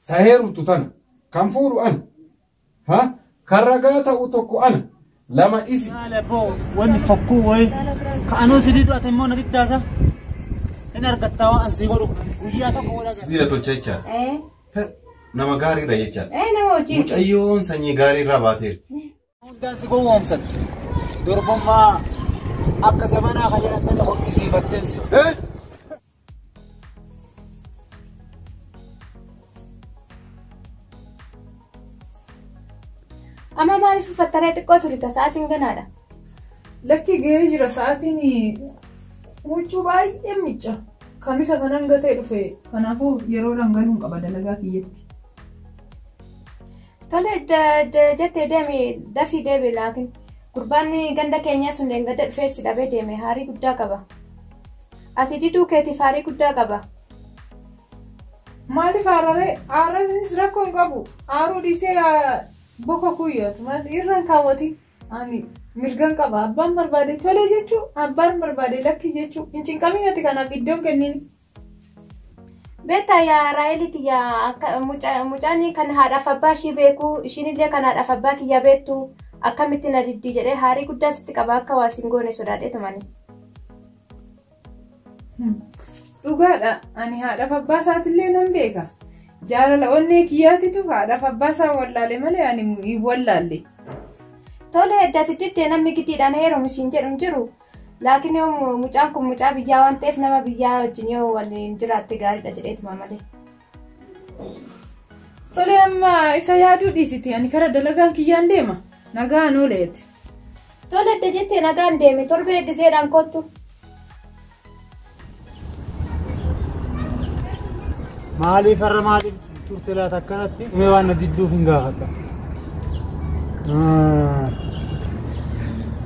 ta heerumtu tana kan fuudhu ana ha kan ragaa ta'u tokko ana lama isi Maale boo wanni fokkuu wayi ka anuu si didu ati immoo na diddaasa hin argattaa waan an si godhu guyyaa tokko godha sibiila tolcha jechaadha Eh, nama gaariidha jechaadha eh, nama wajjin. mucayyoon sanyii gaariirraa baateerti hundaan si gowwoomsan durbummaa akka zamanaa kan jedhan sana hoqqisiifatteen si. Amma maaliif uffattaree xiqqoo turita sa'aatiin ganaadha. Lakki gahee jira sa'aatiin huccuu baay'ee miicca. Kamisa kanan gatee dhufe kanaafuu yeroo dhangaluun qaba dalagaa kiyyatti. Tole jettee deemi dafii deebi laakiin gurbaan ganda keenyaa sun deengadda dhufee si dhabee deeme haarii guddaa qaba. Ati diduu keetiif haarii guddaa qaba. Maaliif aararee aarrasinis rakkoo hin qabu aaruu dhiisee boka kuyyootu maali irraan kaawwati ani mirgan qaba abbaan barbaade tolee jechuu abbaan barbaade lakkii jechuu hin cinqaminati kanaaf iddoon kenniin. Beektaa yaa Raa'elii tiyya akka muca- mucaan kan haadhaaf abbaa ishii beeku ishiinillee kan haadhaaf abbaa kiyya beektu akkamitti na diddii jedhee haarii guddaa sitti qaba akka waa sin goone sodaadhee tumani. Dhugaadha. Ani haadhaaf abbaa isaatillee nan beeka. Jaalala onnee kiyyaatitu haadhaaf abbaa isaa wallaale malee ani hin wallaalle. Tole edda si diddee namni giddiidhaan heerumu siin jedhu hin jiru Laakiin yoo mu- mucaan kun mucaa biyyaa waan ta'eef nama biyyaa wajjin yoo waliin jiraatte gaariidha jedheetuma malee. Tole amma isa yaaduu dhiisiti ani kara dalagaan kiyyaan deema nagaan ooleeti. Tole edda jettee nagaan deeme torbee edda jeedhaan kottu. Maaliif har'a maaliif turte laata akkanatti mee waan na didduuf hin gaafadha.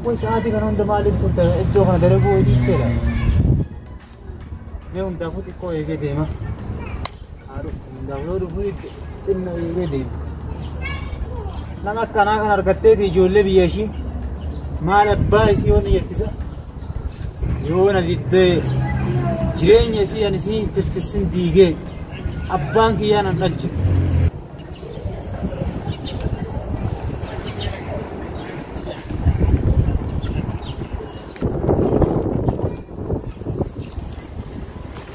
Kun sa'aatii kana hunda maaliif turte iddoo kana dalaguu hojii ifteedha. Mee hundaafuu xiqqoo eegee deema. Haa dhuftu hundaaf yoo dhufu itti xinna eegee deema. Nama akkanaa kan argatteeti ijoollee biyya ishii maal abbaa isii yoo ni jettisa. Yoo na diddee jireenya isii ani isii hin tirtissin diigee abbaan kiyyaa nan dhalche.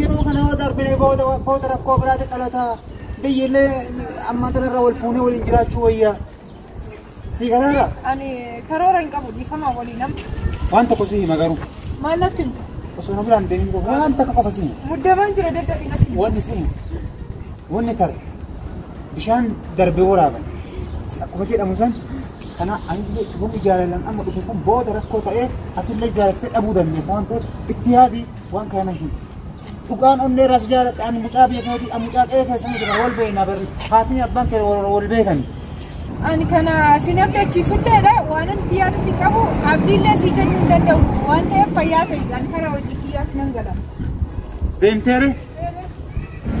Yeroo kana yoo darbine booda booda rakkoo biraati dhalata. Biyyillee amma tanarra wal fuunee waliin jiraachuu wayya. Sii galaara? Ani karoora hin qabu dhiifama walii nam. Waan tokko sii hima garuu. Maal natti himta? Osoo na biraan deemin qofa waan takka qofa sii hima. Muddamaan jira daddafi natti himta. Wanni sii hima. Wanni tar bishaan darbee waraaban. Akkuma jedhamu san kana ani wanni jaalalan amma dhufe kun booda rakkoo ta'ee atillee jaalattee dhabuu dandeessa waan ta'eef itti yaadi. waan kana na hima. Dhugaan onnee irraa si jaaladha ani mucaa biyya keetii ani mucaa qe'ee keessa miti kan wal beekna barri haatni abbaan kee wal wal beekani. Ani kana sin abdachiisulleedha waan nuti yaadu si qabu abdiillee si kennuu hin danda'u waan ta'eef fayyaa ta'e ani kana hojii kiyyaaf nan gala. Deemteere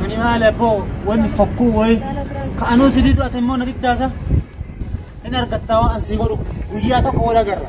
ani maal abboo wanni fakkuu wayi ka anuu si didu ati immoo na diddaasa hin argattaa waan an si godhu guyyaa tokko wal agarra.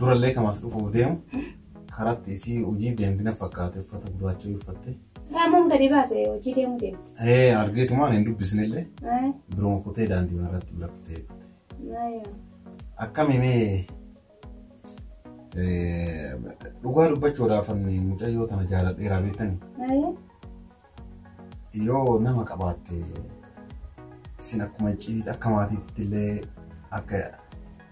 Durallee kan as dhufuuf deemu karatti isii hojii deemtina fakkaate uffata gurraacha uffatte. Raamoon gadi baate hojii deemuu deemte. Ee argeetumaan hin dubbisnillee biroo kutee daandii irratti bira kutee. Akkami mee dhugaa dubbachuudhaaf mucayyoo tana jaaladheeraa beektanii? Yoo nama qabaatte isin akkuma icciitiitti akka maatiitti illee akka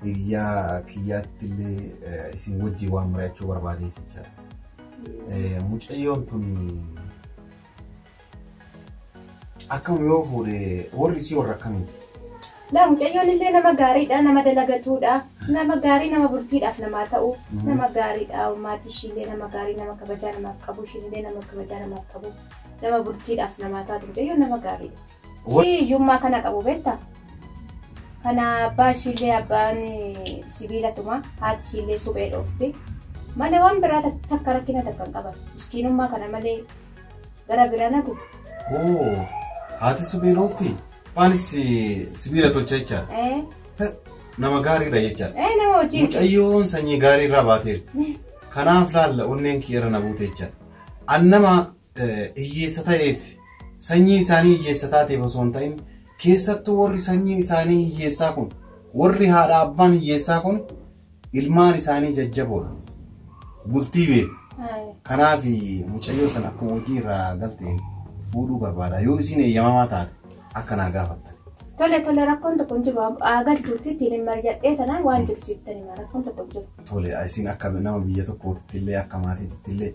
hiriyaa kiyyaatti illee isin wajjin waan mari'achuu barbaadeef jechaadha. Mucayyoon tun akkam yoo fuudhe warri isii warra akkamiiti? Laa mucayyoon illee nama gaariidha nama dalagatuudha nama gaarii nama bultiidhaaf namaa ta'u nama gaariidha maatii ishii illee nama gaarii nama kabajaa namaaf qabu ishii illee nama kabajaa namaaf qabu nama bultiidhaaf namaa taatu mucayyoon nama gaariidha. Wa- Ishii hiyyummaa kana qabu beekta kana abbaan ishii illee abbaan eh, sibiila tuma haati ishii illee suphee dhoofti malee waan biraa tak- takka rakkina takka hin qaban miskiinummaa kana malee gara biraa nagu Oo, haati suphee dhoofti? Abbaanis sibiila tolcha jechaadha. Eh, Nama gaariidha jechaadha. eh, nama hojii. Mucayyoon sanyii gaarii irraa baateerti. Kanaaf laalla onneen kee irra na buute jechaadha. An nama eh, hiyyeessa ta'eef sanyii isaanii hiyyeessa taateef osoo hin ta'in keessattuu warri sanyiin isaanii hiyyeessaa kun warri haadha abbaan hiyyeessaa kun Ilmaan isaanii jajjaboon bultii beeku. Kanaaf mucayyoo sana akka hojii irraa galteen fuudhuu barbaada. Yoo isiin eeyyamamaa taate akka naa gaafattan. Tole tole rakkoon tokko hin jiru. Aagal turtii ittiin hin marjadhee tanaan waan jiru siif tanima rakkoon tokko hin jiru. Tole isiin akka nama biyya tokkootitti illee akka maatiitti illee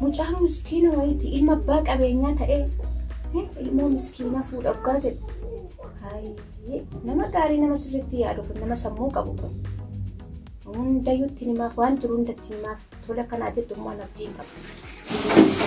Mucaan miskiina wayiiti ilma abbaa qabeenyaa ta'ee ilmoo miskiina fuudha dhugaa jedhu. Nama gaarii nama sirriitti yaadu kun nama sammuu qabu kun. Hundayyuu itti himaaf waan jiru hunda itti himaaf tola kanaa jettu immoo an abdiin qabu.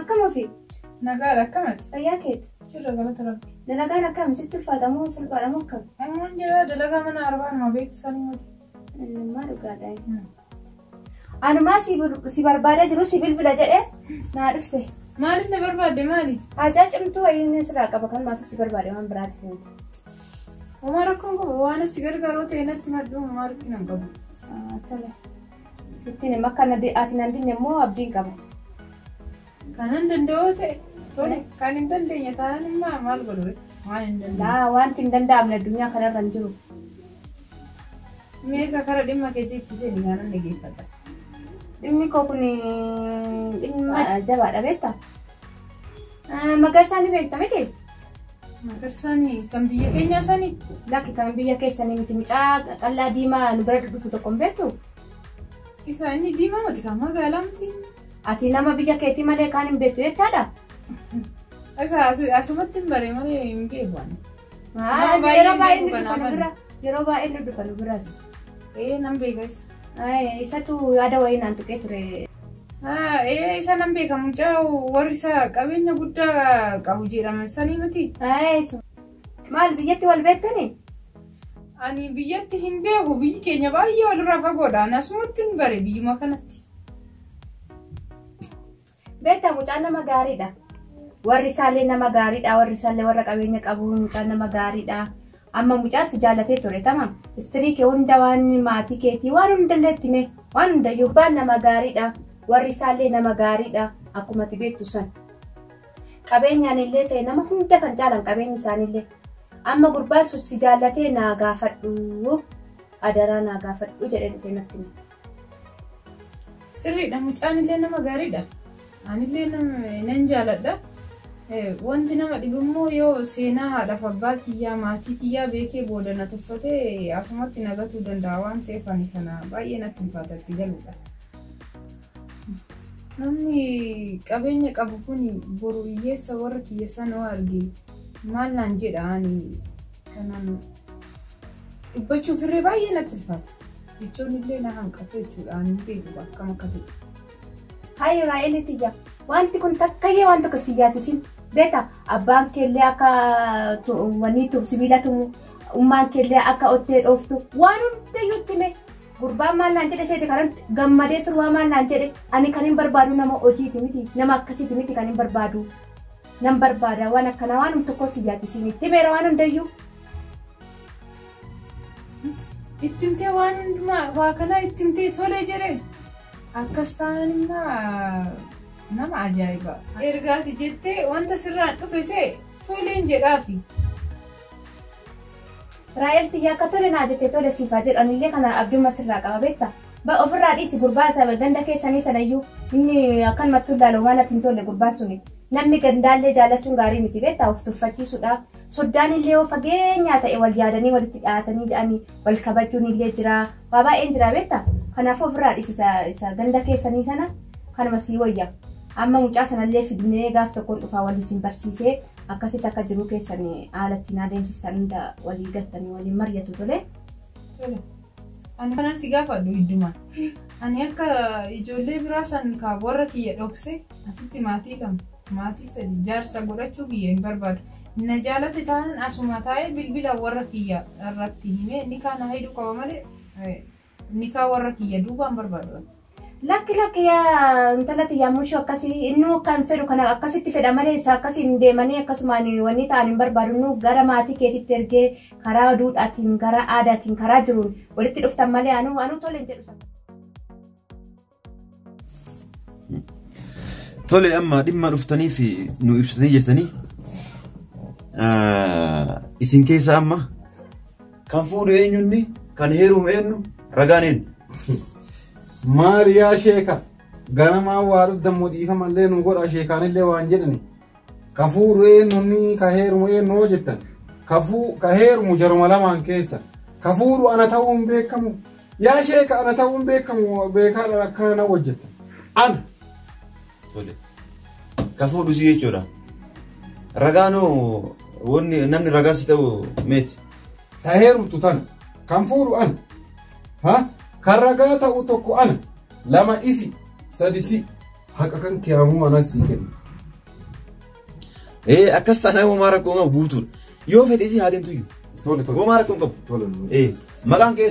Akkam ofii? Nagaan akkam ati? Fayyaa keeti? Jirra galata rabbi. Dalagaan akkam? Sitti ulfaata moo salphaadha moo akkam? Ammaan jira dalagaa mana arbaa nama beektu sanii miti. Maa dhugaadha. Anumaa si bil- si barbaadaa jiru si bilbila jedhe naa dhufte. Maaliif na barbaadde maali? Haajaa cimtuu wayiin sirraa qaba kan maaf si barbaade waan biraatiif miti. Homaa rakkoon qabu waan si gargaaroo ta'e natti maddu homaa rakkina hin qabu. Ah, Tole. Sittiin hima akka na de- ati nan dinne immoo abdiin qaba. Kanan danda'oo ta'e tole kan hin dandeenye taanaan immoo maal godhu waan hin dandeenye. Laa wanti hin danda'amne addunyaa kanarra hin jiru. Meeqa kara dhimma keetii itti seeni kanan dhaggeeffadha. Dhimmi koo kun dhimma jabaadha beekta. Magarsaa ni beekta miti? Magarsaan kan biyya keenyaa sani? Lakki kan biyya keessanii miti mucaa qaqallaa diimaa nu bira dhufu tokko hin beektu? Isa inni diimaa miti kan magaalaa miti. Ati nama biyya keetii malee kaan hin beektu jechaadha? Isa asi- asumatti hin bare malee hin beeku ani. Haa, Nama baay'ee yeroo baay'ee hin nu beeku dhufa nu kanaan. bira. Yeroo baay'ee nu dhufa nu biras. Ee nan beeka isa. Aye, isatu yaada wayii naan tuqee ture. Ah, ee, isa nan beeka mucaa warri isa qabeenya guddaa qabu jedhaman sanii miti. Aye, isu. Maal biyyatti wal beektanii? Ani biyyatti hin beeku biyyi keenya baay'ee walirraa fagoodha. Ani asumatti hin bare biyyuma kanatti. Beektaa mucaan nama gaariidha. Warri isaallee nama gaariidha. Warri isaallee warra qabeenya qabu mucaan nama gaariidha. Amma mucaan si jaallatee ture tamam. Istirii kee hunda waan maatii keetii waan hundallee itti mee waan hundayyuu. Gurbaan nama gaariidha. Warri isaallee nama gaariidha. Akkuma ati beektu san. Qabeenyaan illee ta'e nama hunda kan caalan qabeenyi isaaniillee. Amma gurbaan sun si jaallatee naa gaafadhu. Adaraa naa gaafadhu jedhee dhufee natti hime. Sirriidha mucaan illee nama gaariidha. Anillee nan jaaladha. Wanti nama dhibu immoo yoo seenaa haadhaaf abbaa kiyyaa maatii kiyyaa beekee booda na tuffate asumatti na gatuu danda'a waan ta'eef ani kana baay'ee natti ulfaata itti galuudha. Namni qabeenya qabu kun boru hiyyeessa warra kiyya sana arge maal naan jedha ani Kanaan dubbachuuf irree baay'ee natti ulfaata. Jechoonni illee na hanqatu jechuudha. Ani hin beeku akkam akka ta'e. Hayi Raa'eelii tiyya wanti kun takkayyee waan tokko si yaadisiin beekta abbaan keellee akka wanii tum sibiila tumu ummaan keellee akka ottee dhooftu waan hundayyuu itti mee gurbaan maal naan jedhe seete kanan gammadee surwaa maal naan jedhe ani kan hin barbaadu nama hojiiti miti nama akkasiiti miti kan hin barbaadu Nan barbaada waan akkanaa waanum tokkoo si yaadisiin itti himeera waan hundayyuu. Ittimtee waan hundumaa waa kanaa ittimtee tolee jedheen. Akkas taanaan immoo nama ajaa'iba. Ergaati jettee wanta sirraan dhufe ta'e toleen jedhaafi. Raa'el tiyya akka tole naa jette tole siif haa jedhu anillee kana abdumma sirraa qaba beektaa. Ba ofirraa dhiisi gurbaa isa ganda keessanii sanayyuu inni akkanumatti tullaalu waan natti hin tolle gurbaan suni. Namni gandaallee jaallachuun gaarii miti beektaa of tuffachiisuudha. Soddaan illee yoo fageenyaa ta'e wal yaadanii walitti dhiyaatanii jedhanii wal kabajuun illee jira. Waa baay'een jira beektaa. Kanaafuu ofirraa dhiisi isa, isa ganda keessanii sana kanuma sii wayya. Amma mucaa sanallee fidnee gaaf tokkoon dhufaa waliin isin barsiisee akkasitti akka jiruu keessan haala ittiin adeemsistan hunda walii galtanii waliin mari'atu tole. Tole. Ani kanan si gaafadhu hiddumaan. Ani akka ijoollee biraa san ka warra kiyya dhokse asitti maatii lama maatii sadi jaarsa godhachuu kiyya hin barbaadu. Na jaalate taanan asuma taa'ee bilbila warra kiyya irratti himee nikaa na hidhu qaba malee nikaa warra kiyya duuba hin barbaadu. Lakki lakki yaa intala tiyyaa mushoo akkasii innuu akka hin fedhu kana akkasitti fedha malee isa akkasiin deemanii akkasumaan wanni ta'an hin barbaadu innuu gara maatii keetitti ergee karaa duudhaatiin gara aadaatiin karaa jiruun walitti dhuftan malee anuu anuu tole hin jedhu sana. Tole amma dhimma dhuftanii fi nu ibsitanii jirtanii isin keessa amma Kan fuudhu eenyu inni? Kan heerumu eenyu? Ragaan eenyu? Maali yaa sheeka ganamaa waa dhuddammoo dhiifamallee nu godha sheekaanillee waan jedhani ka fuudhu eenyunni ka heerumu eenyu hoo jettan ka fuu- ka heerumu jaruma lamaan keessa ka fuudhu ana ta'uu hin beekamu yaa sheeka ana ta'uu hin beekamu beekaadha akkana na hojjettan ana Tole. Ka fuudhu si jechuudha. Ragaanoo wanni namni ragaa si ta'u meeti. Ta heerumtu tana. Kan fuudhu ana. Ha? Kan ragaa ta'u tokko ana. Lama isi. Sadi si. Haqa kan kee ammoo anas sii kenna. Ee akkas taanaan homaa rakkoo qabu guutuudha. Yoo fedhe si haa deemtu iyyuu. Tole tole. Homaa rakkoo qabu. Tole. Ee maqaan kee.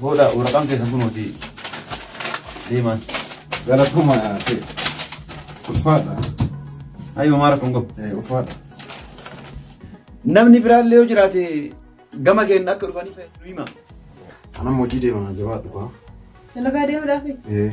Booda waraqaan keessa kunuuti deemaan. Galatuma ta'e. Ulfaadha. Ayyoo maara kun qabu. Eh, Ulfaadha. Namni biraallee yoo jiraate gama keenya akka dhufaniif nu hima. Anam hojii deema jabaadhu kaa. Dalagaa deemuudhaaf Eh,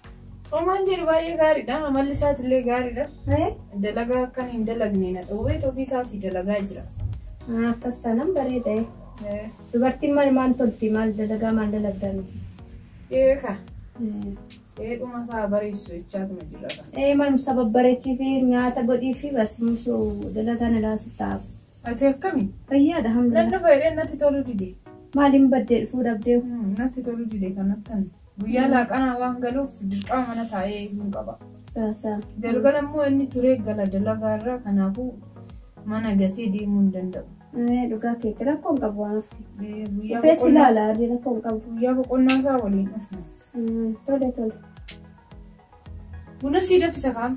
Homaan jedhu baay'ee gaariidha. Amalli isaati illee gaariidha. Dalagaa akkan hin dalagne na dhowwee ofii isaatii dalagaa jira. Akkas taanaan bareeda. Dubartiin maal maal tolti maal dalagaa maal dalagdaa miti. Ee ka. Ee dhuma isaa bareessu jechaatuma jira kan. Ee maal sababbareechii fi nyaata godhii fi bas mushoo dalagaa na laasitaaf. Ati akkami? Fayyaadha Nan hamdulillah. dhufa jedheen natti toluu dide. Maaliin baddee dhufuu dhabdee? Hmm, Natti toluu dide kan akkan. Guyyaa laaqanaa waan galuuf dirqama mana taa'ee eeguun qaba. Saa saa. Galgala immoo inni turee gala dalagaa irraa kanaafuu mana gatee deemuu hin danda'u. Ee, Dhugaa keetti rakkoo hin qabu waan hafe. Eh, Guyyaa Feessi boqonnaa- ilaala arri rakkoo hin qabu. guyyaa boqonnaa isaa waliin dhufna. Mm, Tole tole. Buna sii daffisa kaa.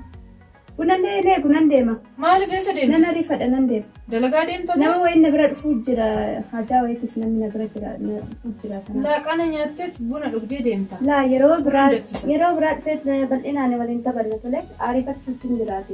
Buna lee lee kunan deema. Maaliif eessa deemta? Nan ariifadha nan deema. Dalagaa deemta moo? Nama wayii na bira dhufuu jira. Hajaa wayiitiif namni na bira jira na dhufuu jira kana. Laaqana nyaatteet buna dhugdee deemta. Laa yeroo biraa Kunan daffisa. yeroo biraa dhufeet na bal'inaan waliin taphanna tole ariifachuutti hin jiraate.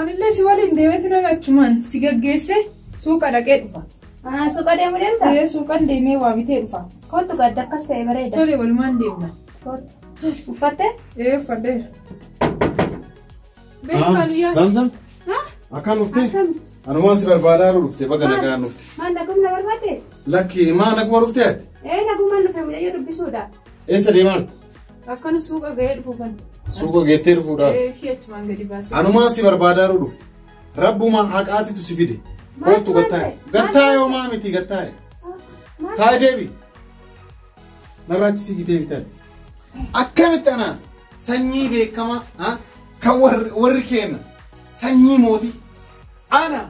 Anillee si waliin deemeeti nan achumaan si gaggeesse suuqa dhaqee dhufa. Anaa suuqa deemu deemta? Ee suuqan deemee waa bitee dhufa. Kottu gadda akkas ta'e bareeda. Tole walumaan deemna. Kottu. Uffatte? Ee uffadheera. Beeku maaluyyaa. Zamzam Haa? akkaan dhufte Akkam? anumaan si barbaadaa yeroo dhufte baga nagaan dhufte. Maal nagumna barbaadde? Lakki maa naguma dhufte ati? Ee nagumaan dhufe mucayyoo dubbisuudha. Eessa deemaa jirtu? Akkana suuqa ga'ee dhufuufan. Suuqa geettee dhufuudhaaf. Ishii achumaan gadi baasee. Anumaan si barbaadaaruu dhufte. Rabbumaa haqaatitu si fide. Koottu gattaa'e. Gattaa'e homaa miti gattaa'e. Taa'e deebi. Narraachi si gitee bitan. Akkamitti anaa sanyii beekamaa ha? kan warri warri keenya sanyii mootii ana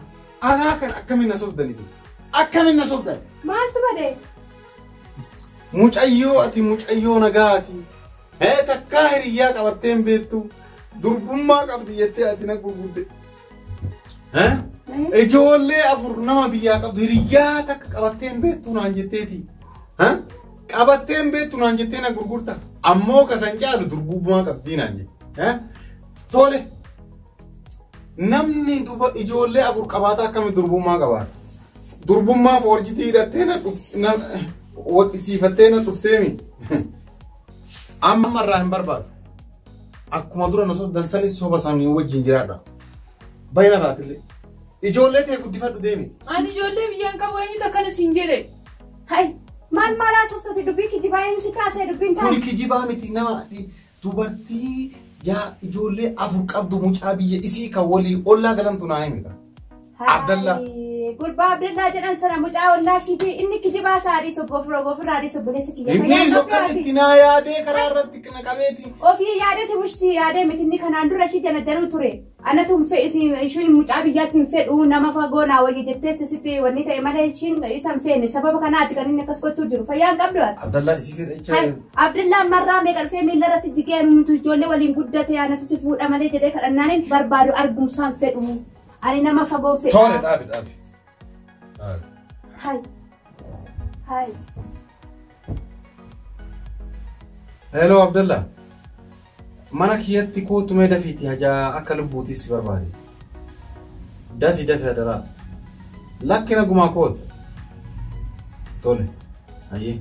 anaa kan akkamiin na sobdan isin akkamiin na sobdan Maaltu badee? Mucayyoo ati mucayyoo nagaati. Hee takkaa hiriyyaa qabattee hin beektu. Durbummaa qabdi jettee ati na gurgudde. Hee? Ijoollee afur nama biyyaa qabdu hiriyyaa takka qabattee hin beektu naan jetteeti. Hee? Qabattee hin beektu naan jettee na gurgurta. Ammoo kasan caalu durbummaa qabdii naan jette. Hee? Tole. Namni duba ijoollee afur qabaata akkami durbummaa qabaata? Durbummaa foorjitii hidhattee na dhuf- na- wadhisiifattee na dhufteemi. Amma irraa hin barbaadu. Akkuma dura na sobdan sanis soba isaanii wajjin jiraadha. Baay'ina irraatillee. Ijoollee tee guddifadhu deemi. Ani ijoollee biyyaan qabu eenyutu akkana siin jedhe. Hai, maal maal haasoftate dubbii kijibaa eenyu si kaasee dubbiin Kuni taa'e? kijibaa miti nama Dubartii yaa ijoollee afur qabdu mucaa biyya isii kan walii ollaa galantu naa himi kaa. Abdallaa. Hayi, Gurbaa Abdallaa jedhan sana mucaa ollaa ishiiti inni kijibaa isaa adii sobbo ofirra ofirraa adii sobboleessa kiyya. Inni Fayyaa sokkan qabdaati. itti naa yaadee karaa irratti na qabeeti. Ofii yaadati mushti yaadee miti inni kanaan dura ishii jana januu ture. Anatu hin fedhu isin ishiin mucaa biyyaatti hin fedhu nama fagoo naa wayya jetteetti sitti wanni ta'e malee ishiin isa hin feene sababa kanaati kan inni akkas gochuu jiru fayyaa hin qabdu ati. Abdallaa isii fedha jecha Kan Abdullaan marraa meeqa dhufee miila irratti jigee ani nuti ijoollee waliin guddate anatu si fuudha malee jedhee kadhannaanin barbaadu argumsaan fedhu ani nama fagoo fedha. toole dhaabi dhaabi. Hi. Hi. Hello Abdalla. Mana kiyyatti kootu mee dafiiti hajaa akka lubbuutis si barbaade. Dafi dafi hadaraa. Lakki nagumaa kootu. Tole. Hayyee.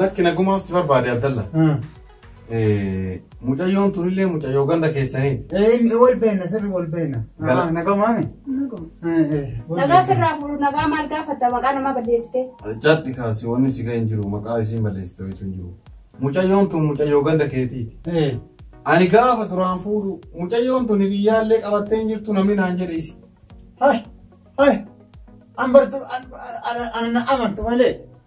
Lakki nagumaaf si barbaade Abdalla. Mucayyoon tunillee mucayyoo ganda keessaniiti. Ee wal beekna sirri wal beekna. Gala. Nagaa maame. Nagaa sirraa fuudhu nagaa maal gaafatta maqaa nama balleessitee. Jadhi kaasi wanni si ga'e hin jiru maqaa isiin balleessite wayitu hin jiru. Mucayyoon tun mucayyoo ganda keetiiti. Ee. Ani gaafa duraan fuudhu mucayyoon tun hiriyyaallee qabattee hin jirtu namni naan jedhe isi. Hai. Hai. An bartu an an an amantu malee.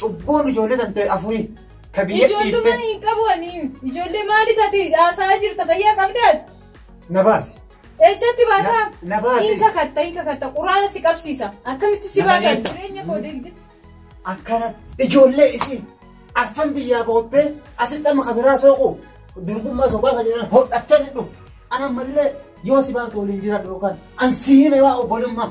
Cubbuun ijoollee tantee afurii ka biyya Ijoollee dhiiftee mana hin qabu ani. Ijoollee maali tati dhaasaa jirta fayyaa qabdaati. na baasi. Eechatti baataa. Na- na baasi. Hin kakatta hin kakatta quraana si qabsiisa. Akkamitti si Na baasa bayeessa. jireenya koo deegde. Akkanatti ijoollee isii arfan biyyaa boottee asitti amma kabiraa sooqu durbummaa sobaa kan jedhan hodhattee si dhufu. Ana ammallee yoo si baatu waliin jiraadhu yookaan an si hime waa obbolummaa.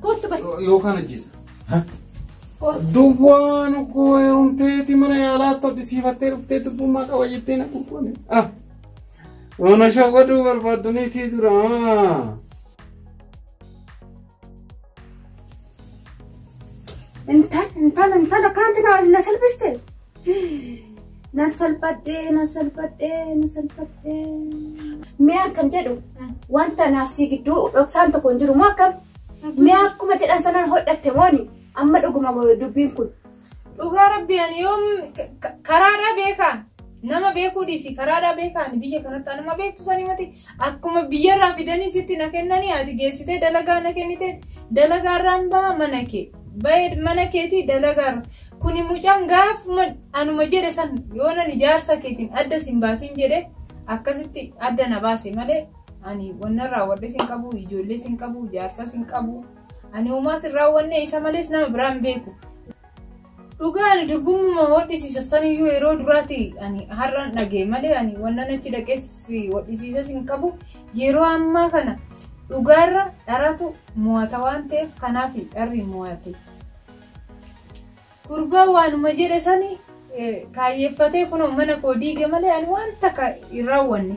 Kottu bari. Yookaan ajjeesa. Duwwaan koo heerumteeti mana yaalaa tolchisiifattee dhuftee dubbummaa qaba jettee na qulqulle. Ah! Mana shawwaduu barbaaddaniitii duraa. Intal intal intal akkanatti na na salphiste. Na salphadhee, na salphadhee, na salphadhee. Mee akkan jedhu wanta naaf si gidduu dhoksaan tokko hin jiru moo akkam? Mee akkuma jedhan sanaan hodhatte mooni amma dhuguma dubbiin kun. Dhugaa rabbi ani yoom ka- ka- karaadhaa beekaa nama beekuu dhiisi karaadhaa beekaa ani biyya kanatti anuma beektu sanii mati akkuma biyyarraa fidanii sitti na kennanii ati geessitee dalagaa na kennite dalagaarraan baha mana kee Bayed mana keetii dalagar kuni mucaan gaafuma anuma jedhe san yoonan ijaarsa keetiin adda sin baasin jedhe akkasitti adda na baase malee ani wanna raawwadhe sin qabu ijoollee sin qabu jaarsa sin qabu ani uumaa sin raawwanne isa malees nama biraan beeku. Dhugaa ani durbummuma hodhisiisa saniyyuu yeroo duraati ani har'aan dhagee malee ani wannan achi dhaqees hodhisiisa sin qabu yeroo ammaa kana dhugaarra dharatu Mo'ata waan ta'eef kanaafi dharri mo'ate. Gurbaan waanuma jedhe sani kaayyeeffatee kunoo mana koo diige malee ani waan takka hin raawwanne.